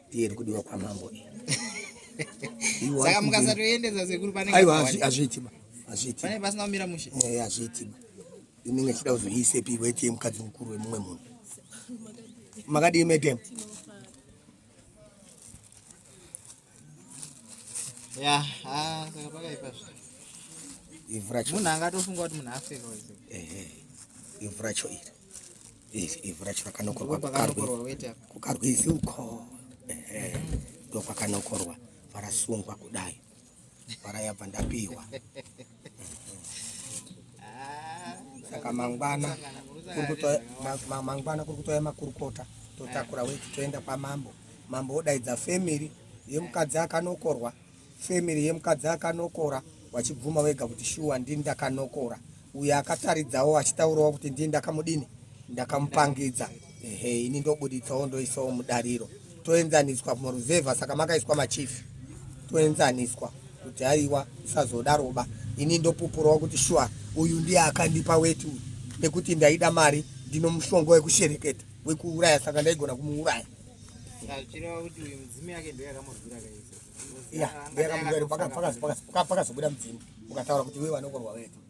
ndiye iri kudiwa kwamambo saka mukasatoendesa sekuru paneaiwa hazviitima hazviitima pasina kumira mushe eh, hazviitima inenge ichida kuzoiisepi weti yemukadzi mukuru wemumwe munhu makadii madam ya ah, saka pakaipa zve ivhu racho munhu angatofunga kuti munhu afeka wese ehe ivhu racho iri iri ivhu racho rakanokorwa pakanokorwa weta kukarwi ivhu uko ehe ndokwakanokorwa varasungwa kudai varayabva ndapiwa saka mangwana mangwana kuri kutouya makurukota totakura weti toenda kwamambo mambo odaidza family yemukadzi akanokorwa family yemukadzi akanokora wachibvuma wega kuti shuwa ndini ndakanokora uyo akataridzawo achitaurawo kuti ndini ndakamudini ndakamupangidza ehe ini ndobuditsawo ndoisawo mudariro toenzaniswa muruzevha saka makaiswa machief toenzaniswa kuti aiwa isazodaroba ini ndopupurawo kuti shuwa uyu ndiye akandipa weti uyu nekuti ndaida mari ndino mushonga wekushereketa wekuuraya saka ndaigona kumuuraya pakazobuda mudzimu ukataura kuti iwe vanokorwa weti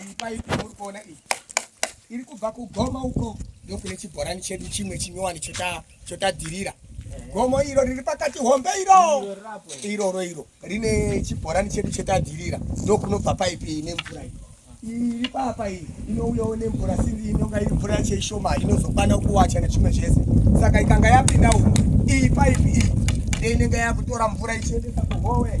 Iyi paipi muri kuona iyi iri kubva kugoma uko ndokune chibhorani chedu chimwe chinyowani chotadirira gomo iro riri pakati hombe iro iroro iro rine chibhorani chedu chotadirira ndokunobva paipi ine mvura iyo iri papa iyi inouyawo nemvura sindi inonga iri mvura yacho ishoma inozokwana kuwacha nechimwe zvese saka ikanga yapinda umo iyi paipi iyi ndeinenge yakutora mvura ichiendesa kuhowe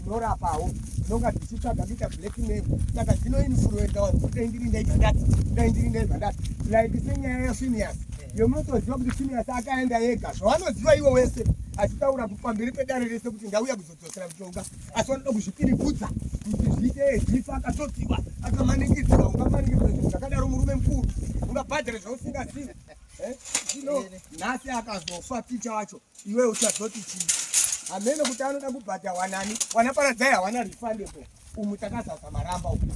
ndinorapawo ndinonga ndichitsvaga kuita black mail saka dzino influenza vanhu kuti dai ndiri ndaita ndati dai ndiri ndaita ndati like senyaya yafinias yomunotoziva kuti finias akaenda ega zvavanoziva iwo wese achitaura pamberi pedare rese kuti ndauya kuzodzosera mutonga asi vanoda kuzvipirigudza kuti zviite ejifa akatotiwa akamanikidzwa ungamanikidzwa zvinhu zvakadaro murume mukuru ungabhadhara zvausingazivi eh? nhasi akazofa ticha wacho iwe uchazoti chii hameno kuti anoda kubhadha wanani wana paradzai hawana refundable umu takazaza maramba uku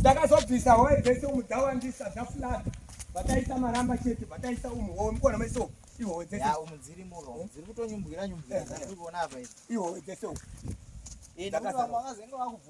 takazobvisa hwae dzese umu dzawandisa dzafulata vataisa maramba chete vataisa umu hoo mukona maiso ihowe dzese umu dziri muro eh? dziri kutonyumbwira nyumbwira eh, dzatiri eh. kuona apa ihowe dzese umu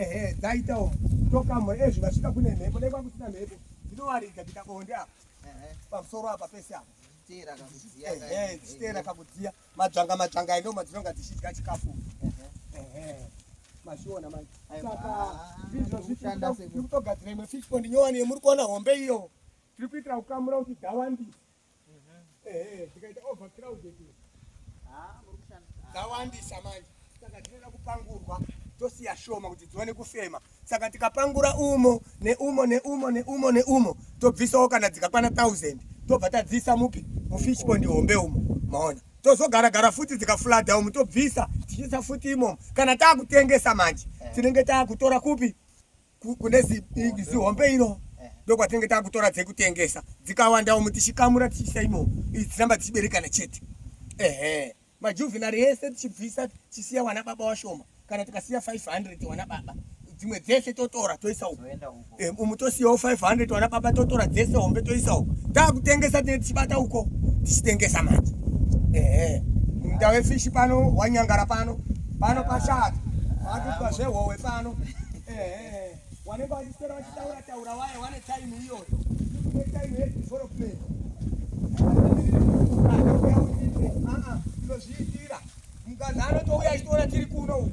ehe dzaitawo tokamwe ezvi vasvika kune mhepo dai kwakusina mhepo ndinowaridza kuita bonde apa pamusoro apa pese apa dziteera kakudziya madzvanga madzvanga endo madzinonga dzichidya chikafu mazviona manje saka ndizvo zvitiri kutogadzira imwe fishpond nyowani yemuri kuona hombe iyo tiri kuitira kukamura kuti dhawandisa dzawandisa manje saka tinoda kupangurwa tosiya shoma kuti dziwane kufema saka tikapangura umo neumo neumo neumo neumo tobvisawo kana dzikakwana 1000 tobva tadzisa mupi mufish pond hombe umo maona tozogara gara futi dzikaflada umo tobvisa tichiisa futi imomo kana taakutengesa manje tinenge taakutora kupi kune zihombe iro ndokwatinenge takutora dzekutengesa dzikawanda umu tichikamura tichiisa imo idzi dziramba tichiberekana chete ehe majuvenari ese tichibvisa tichisiya wana baba washoma kana tikasiya 500 wana baba dzimwe dzese totora toisa uku eh, umu tosiyawo 500 wana baba totora dzese hombe toisa uku takutengesa tine tichibata uko tichitengesa manje ehe munda wefishi pano wanyangara pano pano pashata vatitwa zvehowe pano Eh, wanenge wachiswera wachitaura taura waye wane time iyoyo. Ine time ye development. Ah, ndozviitira. Mukadzi anotouya achitoona tiri kuno uku.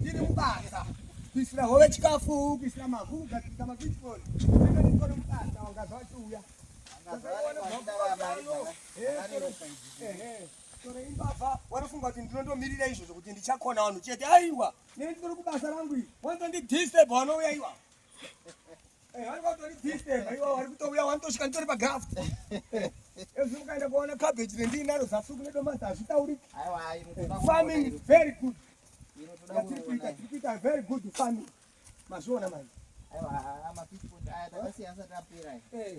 Tiri mubasa. Kuisira hove chikafu, kuisira mavhu, kugadzirisa mabitcoin. Tiri kuno mubasa wanga zvachiuya. Tore imbavha, wanofunga kuti ndinondomirira izvozvo kuti ndichakona vanhu chete. Aiwa. Nini turi kubasa rangu iri. Wanto ndi disturb wanouya iwa. Eh, wari kwato ndi disturb iwa wari kutouya wantoshika nditori pa graft. Ezvi mukaenda kuona cabbage rendi naro zafu kune domasa hazvitauri. Aiwa, ayi mukuda. Farming is very good. Ino tuda Yatiri kuita kuona. tiri kuita very good farming. Mazviona manje. Aiwa, ama pitbull aya takasiya asati apera. Eh.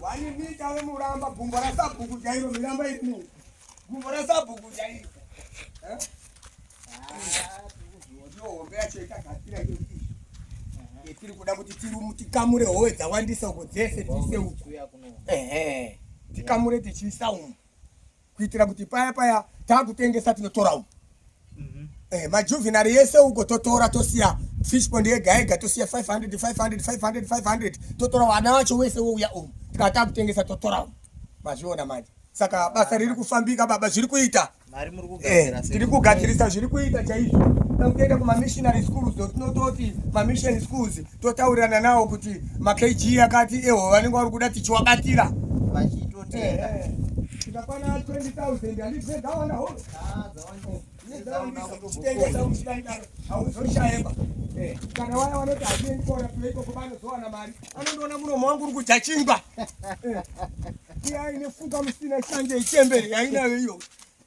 Wani mita we muramba gumbo ra sabhuku jairo miramba iri gumbo ra sabhuku jairo. Eh? Ah, ndio hombe yacho ikagadzira hiyo kitu. Yetiri kuda kuti tirumu tikamure howe dzawandisa uko dzese tise uko. Ehe. Tikamure tichiisa umu. kuitira kuti paya paya takutengesa tinotora uko mhm. eh, majuvenary yese uko totora tosiya fish pond yega yega tosiya 500 500 500 500 totora wana wacho wese wouya umu tikava takutengesa totora umu mazviona manje saka basa riri kufambika baba zviri kuita eh, tiri kugadzirisa zviri kuita chaizvo toenda kumamissionary schools tinototi mamission schools totaurirana nawo kuti makg akati eho vanenge vari kuda tichiwabatira Tikakwana 20,000 handipfe dzawana holo. Tengesa uchida ndaro hauzoshayemba. Kana waya wanoti hatiendi kuona kule ikoko vanozowana mari. Anondoona muromo wangu uri kudya chingwa. Iya ine fuka musina shanje ichembere yainayo iyo.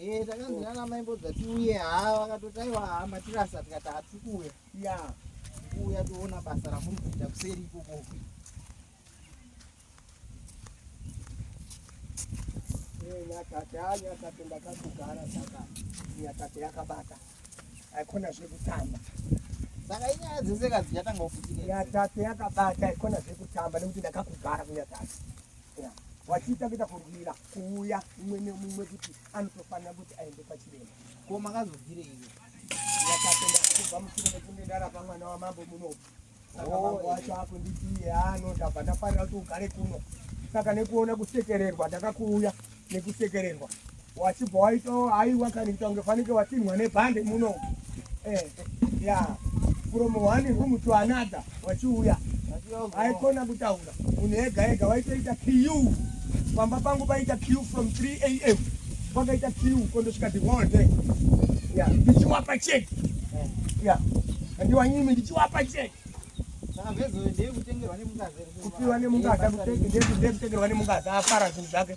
Eh, takanzi nana mai mbodza tiuye haa vakatotaiwa haa matirasa tikati hatiri kuuya ya kuuya toona basa ramuri kuita kuseri ikoko eh, nyakate a ah, nyakate ndakatogara saka nyakate yakabata haikona zvekutamba saka inyaya dzese kadzi yatanga kufutika nyakate yakabata haikona zvekutamba nekuti ndakakugara kunyatate wachiita kuita kurwira yeah. kuuya umwe neumwe kuti anotofanira kuti aende pachirema ko makazobvire iwe ndakatenda kubva mushure mekunge ndarapa mwana wamambo munoku saka oh, mambo wacho eh. akunditiye ano ah, ndabva ndafarira kuti ugare kuno saka nekuona kusekererwa ndakakuuya nekusekererwa wachibva waita haiwa kani kuita kunge fanike watinhwa nebhande muno eh, ya from one room to another wachiuya haikona kutaura Munhu ega ega waitoita kiu pamba pangu paita kiu from 3 am kwakaita kiu kondosvika the whole day ya ndichiwapa cheki ya andiwanyimi ndichiwapa cheki kupiwa nemungaza kutengerwa nemungaza afara zvinhu zvake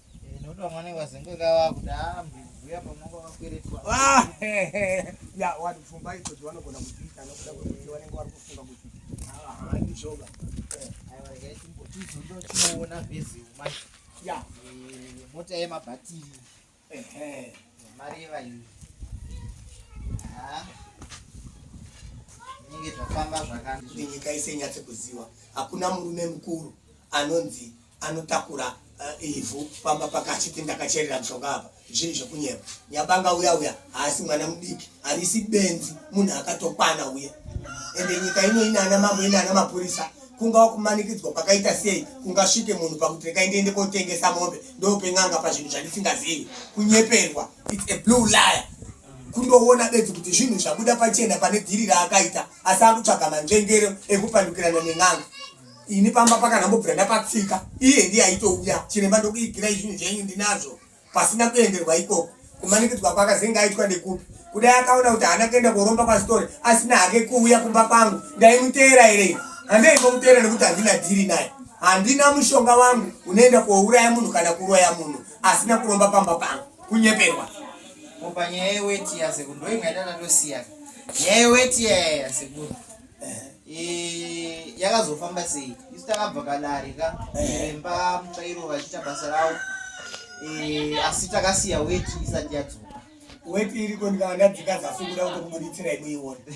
Ah, ya wati pfumba idzo dzavanogona kudziita nokuda kwekuti vanenge vari kufunga kuti haandi zvoga chizondo chinoona vezeu mai ya mota yemabhatiri mari yevaini inenge zvafamba zvakanzi nyika ise inyatse kuziwa hakuna murume mukuru anonzi anotakura eh, ivhu pamba paka achiti ndakacherera mushonga apa zvii zvekunyepa nyabanga uya uya haasi mwana mudiki harisi benzi munhu akatokwana uya ende nyika ino ine ana mambo ine ana mapurisa kungawa kumanikidzwa kwakaita sei kungasvike munhu pakuti rekai ndiende kotengesa mombe ndopen'anga pazvinhu zvandisingazivi kunyeperwa its a blue liar kundoona bedzi kuti zvinhu zvabuda pachena pane dhiri raakaita asi akutsvaga manzvengero ekupandukirana nen'anga ini pamba pakandambobvira ndapatsika iye ndiye aitouya chiremba ndokuigirai zvinhu zvenyu ndinazvo pasina kuenderwa ikoko kumanikidzwa kwaka zenge aitwa ndekupi kudai akaona kuti haana kuenda koromba kwasitore asina hake kuuya kumba kwangu ndaimuteera here handei komuteera nekuti handina dhiri naye handina mushonga wangu unoenda kouraya munhu kana kuroya munhu asina kuromba pamba pangu kunyeperwa panyaya yeweti yasekuru ndoingaita tatosiyana nyaya yeweti yayaya sekuru Eh, yakazofamba sei isu takabva kadare ka imba eh. mutsvairo vachiita basa ravo eh, asi takasiya weti isati yadzoka weti iriko ndikandadzika zasi kuda kutokumuritsira inoiona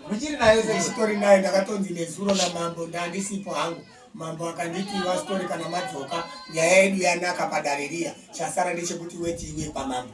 muchiri nayo seitori nayo ndakatonzi nezuro namambo ndandisipo hangu mambo akanditi wasitori kana madzoka nyaya yedu yanaka padare riya chasara ndechekuti weti iwe pamambo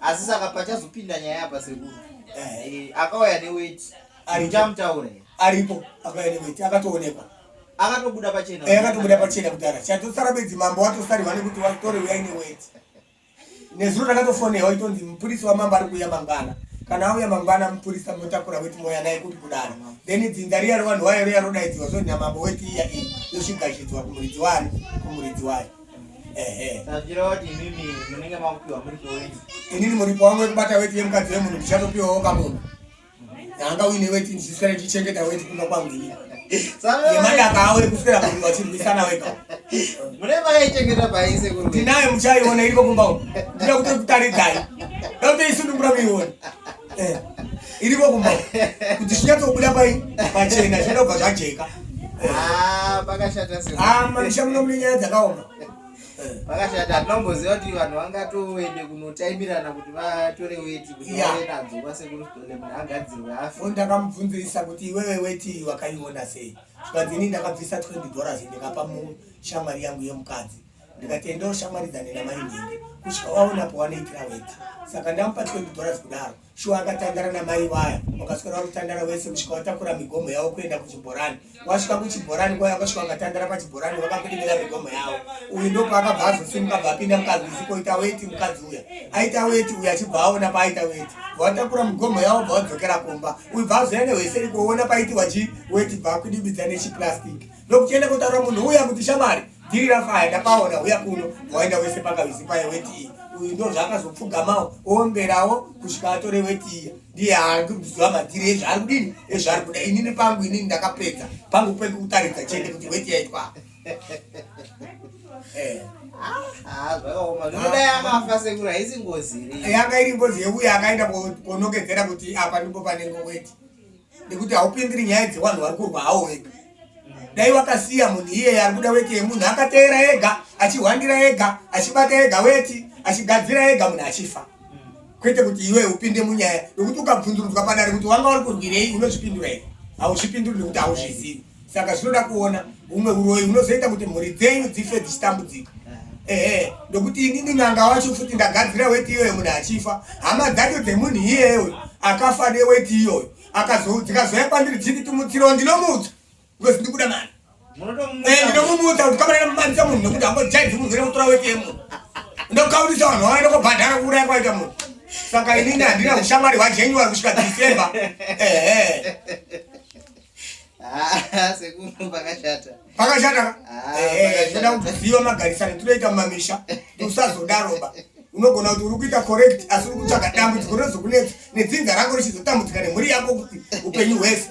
asi saka pachazopinda nyaya apa sekuru eh. eh, akauya neweti aichamutaura aripo akauya neweti akatoonekwa akatobuda pachena eh, akatobuda pachena kudhara chatosara bedzi mambo watosarihwa nekuti watore uyai neweti nezuro takatofonewa itonzi mupurisi wamambo ari kuuya mangwana kana auya mangwana mupurisa motakura weti moya naye kuti kudaro then dzinza riya revanhu wayo riya rodaidziwa zvo nyamambo weti iya iyi yosvigashidzwa kumuridzi wani kumuridzi wayo inini muripo wangu wekubata weti yemukadzi wemunhu ndichatopiwawo kamunhu anga uine weti ndichiswera ndichichengeta weti kumba kwangu ini yemadaka awo ekuswera munhu vachirwisana wega ndinayo muchaiona iriko kumba uku ndinoda kutokutaridzai ndotoisunungura muiona eh, iriko kumba kuti zvinyatsobuda pai pachena zvinoda kubva zvajeka ah, pakashata ah, mamisha muno mune nyaya dzakaoma pakashata tinomboziva kuti vanhu vangatoende kunotaimirana kuti vatore weti kuti vave nadzo kwasekuru stole munhu agadzirwe afi ndakamubvunzisa kuti iwewe weti wakaiona sei zvikanzi ini ndakabvisa 20 dollars ndikapa mushamwari yangu yemukadzi ndikati enda ushamwaridzane namai nhingi kusvika waona pawanoitira weti saka ndamupa 20 dollars kudaro shuwa akatandara namai vaya wakaswera wakutandara wese kusvika watakura migomo yavo kuenda kuchibhorani wasvika kuchibhorani kwaya vakasvika vakatandara pachibhorani vakakudimira migomo yavo uyu ndopaakabva azosimuka bva apinda mukadzi usikoita weti mukadzi uya aita weti uyu achibva aona paaita weti vatakura migomo yavo bva vadzokera kumba uyu bva azoya nehweseri kuona paitiwa chi weti bva akudibidza nechiplastic ndokuchienda kutaura munhu uya kuti shamari Dhiri rafaya ndakaona huya kuno waenda wese pakavizi paye weti iyi uyu ndo zvaakazopfugamawo oomberawo kusvika atore weti iya ndiye haandiziva madhiri ezvaari kudini ezvaari kuda inini pangu inini ndakapedza pangu kweku kutaridza chete kuti weti yaitwa eh. yanga iri ngozi yeuya akaenda konokedzera kuti apa ndipo panenge weti nekuti haupindiri nyaya dzevanhu vari kurwa hawo wega dai wakasiya munhu iyeye ari kuda weti yemunhu akateera ega achihwandira ega achibata ega weti achigadzira ega munhu achifa kwete kuti iwe upinde munyaya nekuti ukabvundurudzwa padare kuti wanga uri kurwirei unozvipindura here hauzvipinduri nekuti hauzvizivi saka zvinoda kuona humwe uroyi hunozoita kuti mhuri dzenyu dzife dzichitambudzika ehe ndokuti inini n'anga wacho futi ndagadzira weti iyoyo munhu achifa hama dzacho dzemunhu iyeyo akafa neweti iyoyo dzikazouya kwandiri dziti timutsiro ndinomutsa because ndikuda mari eh, ndinomumutsa kuti kamanana mumanisa munhu nekuti ambojaidzi munhu ine kutora weti yemunhu ndokaurisa vanhu vawaenda kobhadhara kuuraya kwaita munhu saka inini handina ushamwari hwajenyuwari kusvika december ehe Ah, sekuru pakashata pakashata ka Ah, Eh, eh, pakashata. toda kuti ziva magarisano tinoita mumamisha usazodaroba unogona kuti uri kuita correct asi uri kutsvaga dambudziko rinozokunetsa nedzinza rako richizotambudzika nemhuri yako kuti upenyu hwese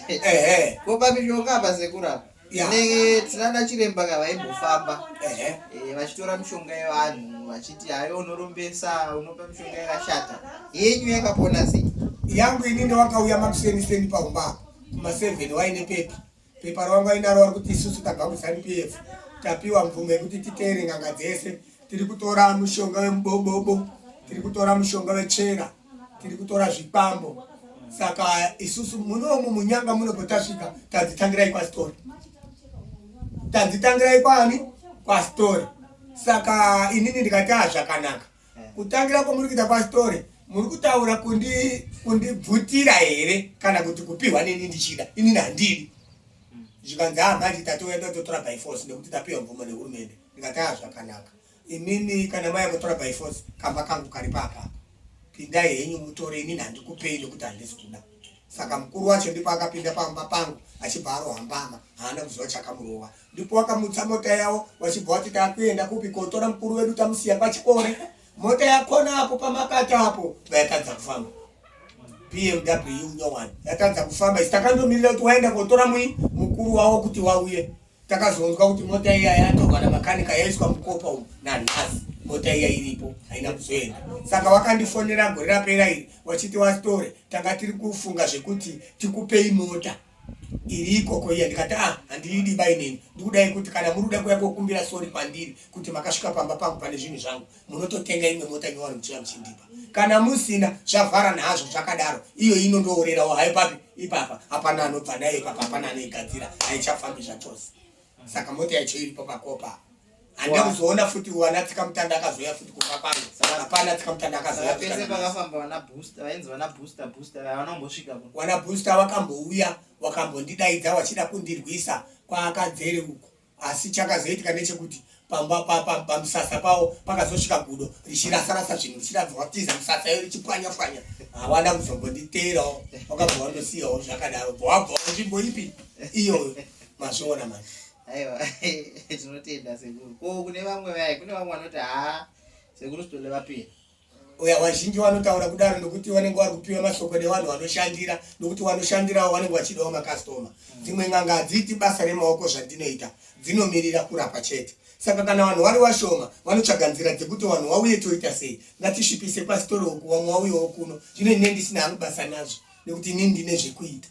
ehe kopa mishonga apa sekuru apa ne tinana chiremba ka vaimbofamba eh, vachitora mishonga yevanhu vachiti hayo unorombesa unopa mishonga yakashata yenyu yakapona sei yangu ini ndowakauya makuseniseni paumba apo kumaseven waine pepa pepa rawangu ainaro wari kuti isusu tabva kuzanu p f tapiwa mvumo yekuti titeere nganga dzese tiri kutora mushonga wemubobobo tiri kutora mushonga wechera tiri kutora zvikwambo saka isusu munomu munyanga munopotasvika tanzitangirai kwasitori tanzitangirai kwani kwasitori saka inini ndikati a ah, zvakanaka kutangira kwamuri kuita kwasitori muri kutaura kundibvutira kundi here kana kuti kupiwa neni ndichida inini handidi zvikanzi a ah, manje tatoenda totora by force nekuti tapiwa mvumo nehurumende ndikati a ah, zvakanaka Imimi kana maya mutora by force kamba kangu kari papa. Pindai henyu mutore inini handikupei nekuti handisi kuda. Saka mukuru wacho ndipo akapinda pamba pangu achibva arohambama haana kuziva chakamurova. Ndipo wakamutsa mota yavo wachibva wati takuenda kupi kotora mukuru wedu tamusiya pachikore. Mota yakona apo pamakata apo vayatadza kufamba. BMW nyowani yatadza kufamba isi takandomirira kuti waenda kotora mui mukuru wavo kuti wauye. Takazonzwa kuti mota iya yatorwa namakanika yaiswa mukopa umu nanhasi mota iya iripo haina kuzoenda. Saka wakandifonera gore rapera iri wachiti wastore tanga tiri kufunga zvekuti tikupei mota iri ikoko iya ndikati ah handiidi bainini ndikudai kuti kana muri kuda kuya kokumbira sori kwandiri kuti makasvika pamba pangu pane zvinhu zvangu munototenga imwe mota nyowani muchiuya muchindipa kana musina zvavhara nazvo zvakadaro iyo inondoorerawo haipapi ipapa hapana anobva nayo ipapa hapana anoigadzira haichafambi zvachose saka mota yacho iripo pakopa handa kuzoona futi wana tsika mutanda akazoya futi kuva pano hapana tsika mutanda akazoyawana booster wakambouya wakambo ndidaidza wachida kundirwisa kwaakadzere uko Asi chakazoitika nechekuti pamba papa pamisasa pawo pakazosvika gudo richirasarasa zvinhu richiradzwatiza misasa iyo richipwanya pwanya hawana kuzombonditeerawo wakabva wandosiyawo zvakadaro bva wabva nzvimbo ipi iyoyo mazviona mani aiwa tinotenda sekuru ko kune vamwe vaye kune vamwe vanoti haa sekuru sitole vapira Oya, vazhinji vanotaura kudaro nokuti vanenge vari kupiwa mashoko nevanhu vanoshandira nokuti vanoshandirawo vanenge vachidawo makastoma mm. dzimwe n'anga hadziiti basa remaoko zvadzinoita dzinomirira kurapa chete saka kana vanhu vari vashoma vanotsvaga nzira dzekuti vanhu vauye toita sei ngatisvipise pasitori uku vamwe vauyewo kuno zvino ine ndisina hangu basa nazvo nekuti ini ndine zvekuita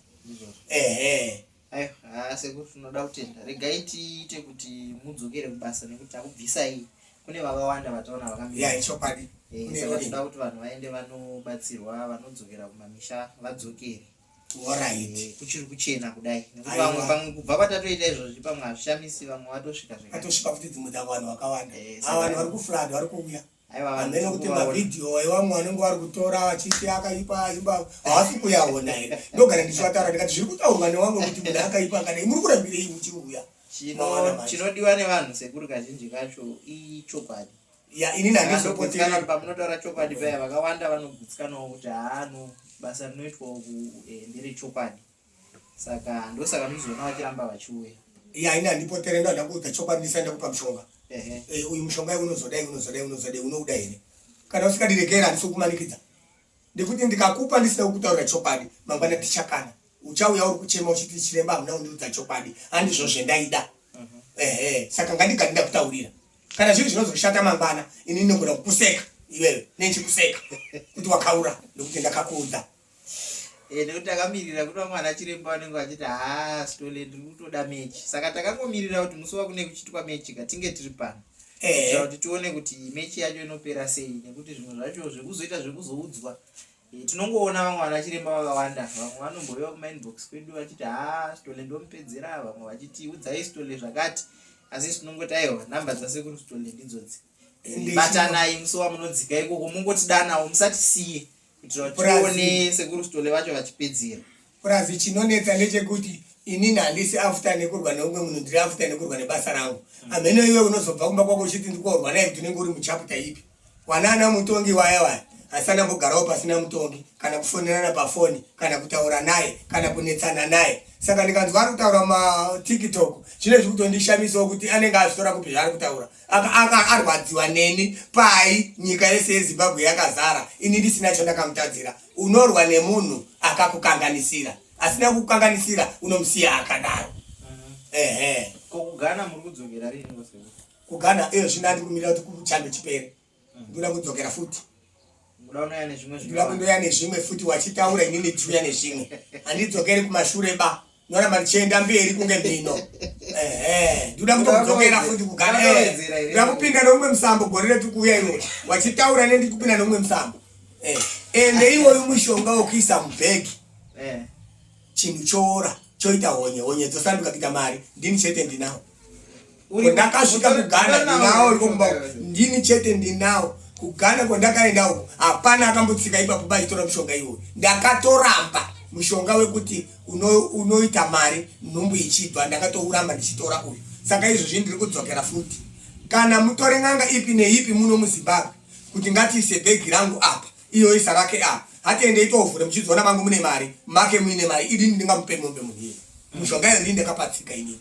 ehe Aiwa sekuru tinoda kutenda. Regai tiite kuti mudzokere kubasa nekuti takubvisai. Kune vakawanda vataona vakamira. Yeah, ichokwadi. Eh, Kune saka road. tinoda kuti vanhu vaende vanobatsirwa vanodzokera kumamisha vadzokere. Alright. Eh, kuchiri kuchena kudai nekuti Aiwa. vamwe pamwe kubva patatoita izvozvi pamwe hazvishamisi vamwe vatosvika zvekare. Atosvika futi dzimwe dzavo vanhu vakawanda. Eh, Ava vanhu saka- vari kuflad vari kuuya. amene kuti mavhidhiyo evamwe vanenge vari kutora vachiti akaipa imba havasi kuyaona here ndogara ndichivatara ndikati zviri kutaurwa newamwe kuti munhu akaipa akadai muri kurambirei muchiuya chinodiwa nevanhu sekuru kazhinji kacho ichokwadi ya inini handizopoteaa pamunotaura chokwadi paya vakawanda vanogutsikanawo kuti haano basa rinoitwa uku eh, ndere chokwadi saka ndosaka muchizoona vachiramba vachiuya ya ini handipotere ndo handakuudza chokwadi ndisaenda kupa mushonga eh, uyu mushonga unozodai unozodai unozodai unouda here kana usikadirekera handisi kumanikidza ndikuti ndikakupa ndisina kutaura chokwadi mangwana tichakana uchauya uri kuchema uchiti chiremba hamuna kundiudza chokwadi handizvo zvendaida mhm. ehe saka ngandigani ndakutaurira kana zvinhu zvinozoshata mangwana ini ndinogona kukuseka iwewe nechikuseka kuti wakaura ndikuti ndakakuudza Eh, nekuti takamirira kuti vamwe ana chiremba vanenge vachiti haa stole ndiri kutoda mechi saka takangomirira kuti musi wakune kuchitwa mechi ka tinge tiri pano eh. kuti tione kuti mechi yacho inopera sei nekuti zvimwe zvacho zvekuzoita zvekuzoudzwa eh, tinongoona vamwe vana chiremba vakawanda vamwe vanombouya kumainbox kwedu vachiti haa stole ndomupedzera vamwe vachiti udzai stole zvakati asi isi tinongoti aiwa namba dzasekuru stole ndidzodzi batanai musi wamunodzika ikoko mungotidanawo musatisiye tione sekuru stole vacho vachipedzera purazi chinonetsa ndechekuti inini handisi after nekurwa neumwe munhu ndiri after nekurwa nebasa rangu hmm. amheno iwe unozobva kumba kwako uchiti ndikorwa naye kuti unenge uri muchaputa ipi wanaana mutongi waya waya asana mbogarawo pasina mutongi kana kufonerana pafoni kana kutaura naye kana kunetsana naye saka ndikanzwa ari kutaura matiktok zvine zviri kutondishamisawo kuti anenge azvitora kupi zvaari kutaura anga arwadziwa neni pai nyika yese yezimbabwe yakazara ini ndisina chandakamutadzira unorwa nemunhu akakukanganisira asina kukukanganisira unomusiya akadaro ehe kugana iyo zvino andikumirira kuti kuchando chipere ndoda kudzokera futi ndoda kundoya nezvimwe futi wachitaura ini ndichiuya nezvimwe handidzokeri kumashure ba noramba ndichienda mberi kunge mhino ndoda kutokudzokera futi kugara ndoda kupinda neumwe musambo gore retu kuuya iwo wachitaura ne ndikupinda neumwe musambo eh, ende iwoyu mushonga wokuisa mubhegi eh. chinhu choora choita honye honye dzosanduka kuita mari ndini chete ndinawo ndakasvika kugana ndinawo uri kumba ndini chete ndinawo kugana kwandakaenda uko hapana akambotsika ipapo bachitora mushonga iwoyo ndakatoramba mushonga wekuti unoita uno mari nhumbu ichibva ndakatouramba ndichitora uyu saka izvozvi ndiri kudzokera futi kana mutore n'anga ipi neipi muno muzimbabwe kuti ngatiise bhegi rangu apa iyo isa rake apa hatiende itovhure muchizoona mangu mune mari make muine mari idini ndingamupe mombe munhii mushonga yonii ndakapatsika inini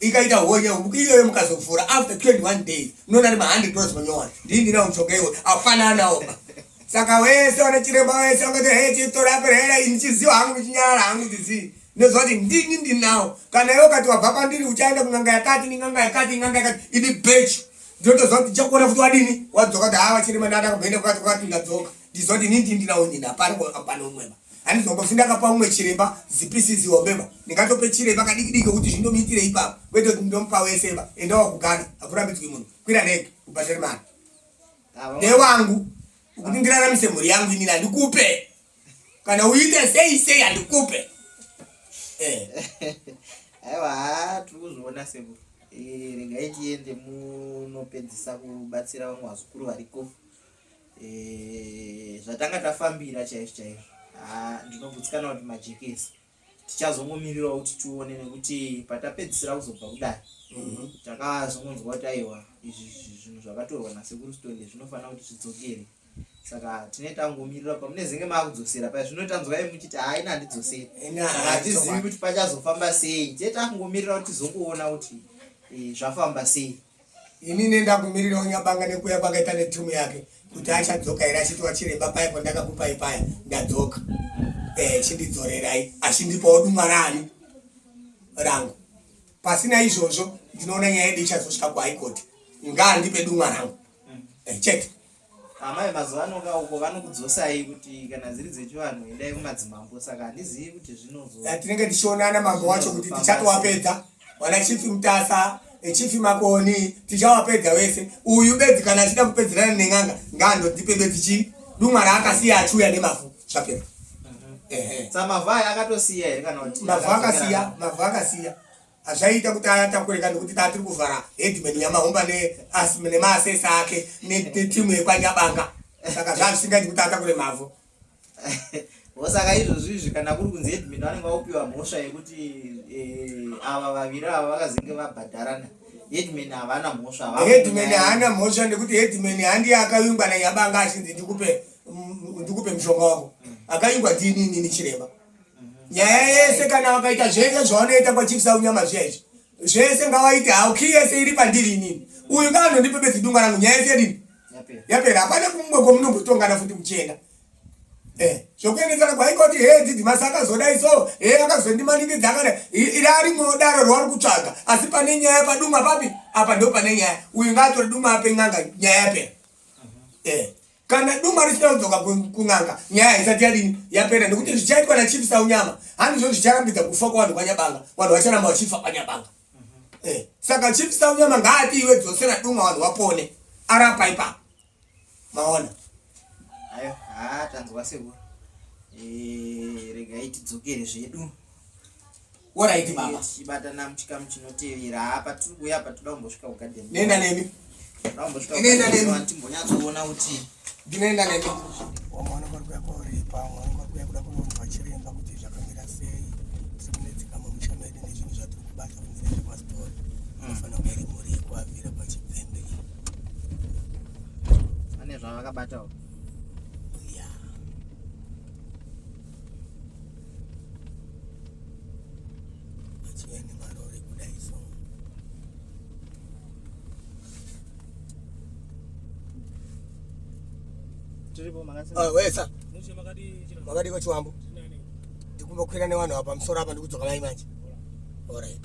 ikaita honye iyoyo mukazofura after 21 days mnona ari ma100 dollars manyowani ndii ndinawo mushonga iwe afananawo saka wese wana chiremba wese angati he chitora perera ini chiziwa hangu chinyara hangu dzizi ndoziva kuti ndini ndinawo kana iwe ukati wabva pandiri uchaenda kun'anga yakati nin'anga yakati in'anga yakati ini bechi ndinotoziva kuti chakuona futi wadini wadzoka kuti haa vachirema ndada kumboenda kwati kwati ndadzoka ndiziva kuti ini ndini ndinawo nini hapana pano umweba Handiti zvambofi ndakapa umwe chiremba zipisi zihombeba ndingatope chiremba kadiki diki kuti zvindomuitire ipapo kwete kuti ndomupa weseba enda wakugana hakurambidzwi munhu kwira neke ubhadhare mari newangu ukuti ndiraramise mhuri yangu inini handikupe kana uite sei sei handikupe eh. aiwa haa tiri kuzviona sebo eh, regai tiende munopedzisa kubatsira vamwe vazukuru variko eh, zvatanga tafambira chaizvo chaizvo ah, ndinogutsikana kuti majekesi tichazongomirirawo kuti tione nekuti patapedzisira kuzobva kudai mhm. takazongonzwa kuti aiwa izvi zvinhu zvakatorwa nasekuru stonde zvinofanira kuti zvidzokere saka tine tangomirira pamunezenge maakudzosera paya zvino tanzwai muchiti haina handidzoseri hatizivi kuti pachazofamba sei tine tangomirira kuti tizongoona kuti eh, zvafamba sei Ini nenda kumirira unyabanga nekuya kwakaita netumu yake kuti achadzoka here achiti wachiremba paya pandakakupai paya ndadzoka eh, chindidzorerai achindipawo dumwa rani rangu pasina izvozvo ndinoona nyaya yedu ichazosvika kuhaikoti ngaandipe dumwa rangu eh, chete amai mazuva ano ka uko vanokudzosai kuti kana dziri dzechivanhu endai kumadzimambo saka handizivi kuti zvinozotinenge eh, tichionana mambo wacho kuti tichatowapedza wana chifi mutasa echifi makoni tichawapedza wese uyu bedzi kana achida kupedzerana nen'anga ngaandotipe bedzi chii dumwa raakasiya achiuya nemavhu zvapera mhm. mavhu akatosiya here kana kuti mavhu akasiya mavhu akasiya hazvaiita kuti atakure ka nekuti taa tiri kuvhara headman nyamahomba nemaasesa ake netimu yekwanyabanga saka zvaa zvisingaiti kuti atakure mavhu osaka izvozvo izvi kana kuri kunzi headman vanenge vakupiwa mhosva yekuti eh, ava vaviri ava vakazenge vabhadharana headman havana mhosva headman haana mhosva nekuti headman handiye akavingwa nanyabanga achinzi ndikupe mm, mushonga wako akavingwa ndiinini chiremba nyaya yese kana vakaita zvese zvavanoita kwachipisa unyama zviyaizvi zvese ngavaite hau ki yese iri pandiri inini uyu ngaanondipe bedzidunga rangu nyaya yese yadini yapera hapana kumwe kwamunombotongana futi kuchena eh, zvokuendesana kwaikoti he dzidzi masi akazodai so he akazondimaningidza akada iri ari mwodaro rwauri kutsvaga asi pane nyaya paduma papi apa ndo pane nyaya uyu ngaatore duma ape n'anga nyaya yapera mhm. eh. kana duma risina kudzoka kun'anga nyaya haisati yadini yapera nekuti zvichaitwa nachief saunyama handizvo zvicharambidza kufa kwavanhu kwanyabanga vanhu vacharamba vachifa kwanyabanga mhm. eh, saka chief saunyama ngaati iwe dzosera duma vanhu vapone arapa ipa maona ayo haa tanzwa seku eh, regai tidzokere zvedu Alright baba. Chibatana muchikamu chinotevera. Hapa tiri kuya apa toda kumbosvika kugarden. Nenda nemi. Toda kumbosvika. Nenda nemi. Timbonyatso kuona kuti ndinoenda nemi. Wamwana kwa kwa kwa ripa, wamwana kwa kwa kuda kunonzwa chiremba kuti zvakamira sei. Tsimune tsikamu mushana yedu nezvinhu zvatiri kubata kunyira kwa story. Hmm. Mafana kwa rimu ri kwa vira kwa chipembe. Ane zvavakabata uko. Ah, wesa makadii kwachiwambo ndikumba kukwira nevanhu apa musoro apa ndikudzoka mai manje orit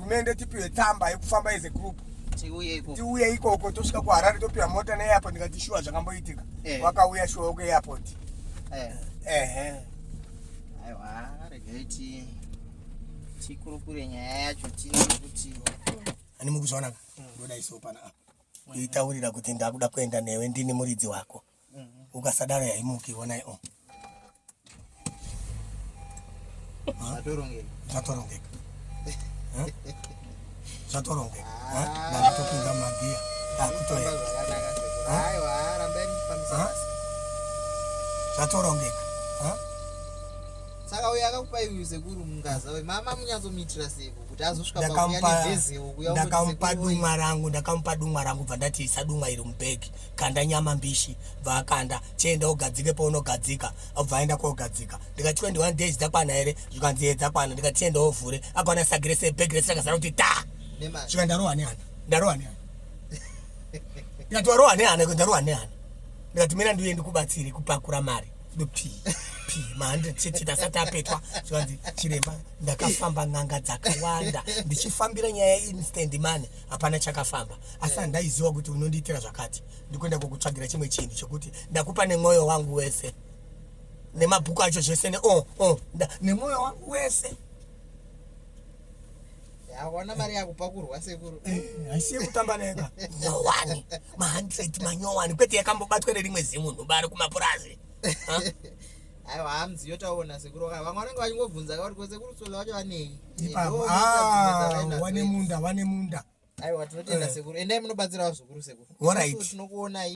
hurumende tipiwe tsamba yekufamba as a group tiuye ikoko tosvika kuharare topiwa mota neairport ndikati shuwa zvakamboitika eh. wakauya shuwa wekuairport eh. ehe aiwa regai ti tikurukure nyaya yacho tine kuti ani mukuzvaonaka ndoda isopanaa kuitaurira kuti ndakuda kuenda newe ndini muridzi wako ukasadaro yaimuki onai o zvatorongeka zvatorongeka ndaatopinda mumagiya akutoya zvatorongeka saka uyo akakupa iwe sekuru mungaza we mama munyatsomuitira seko kuti azosvika pakuya nevezewo kuya ndakamupa dumwa rangu ndakamupa dumwa rangu bva ndati isa dumwa iri mubhegi kanda nyama mbishi bva akanda chienda ugadzike paunogadzika obva aenda kogadzika ndikati 21 days dzakwana here zvikanzi ye dzakwana ndikati chienda ovhure akaona sagi rese bhegi rese rakazara kuti ta svika ndarohwa nehana ndarohwa nehana ndikati warohwa nehana ndarohwa nehana ndikati mina ndiuye ndikubatsire kupakura mari p p ma100 chete tasati apetwa zvikanzi chiremba ndakafamba n'anga dzakawanda ndichifambira nyaya instant mani hapana chakafamba asi eh. handaiziva kuti unondiitira zvakati ndikuenda kukutsvagira chimwe chinhu chekuti ndakupa nemwoyo wangu wese nemabhuku acho zvese ne oh, oh, nemwoyo wangu wese hawana mari yakupakurwa sekuru eh, haisi yekutamba neka nyowani ma100 manyowani kwete yakambobatwa nerimwe zimunhu bari kumapurazi aiwa hamzi yotaona sekuru ka vamwe vanenge vachingobvunza kauri ko sekuru tsola vacho vanei ipapo ah, wane munda wane munda aiwa tinotenda eh. sekuru endai munobatsirawo zvikuru sekuru orit tinokuonai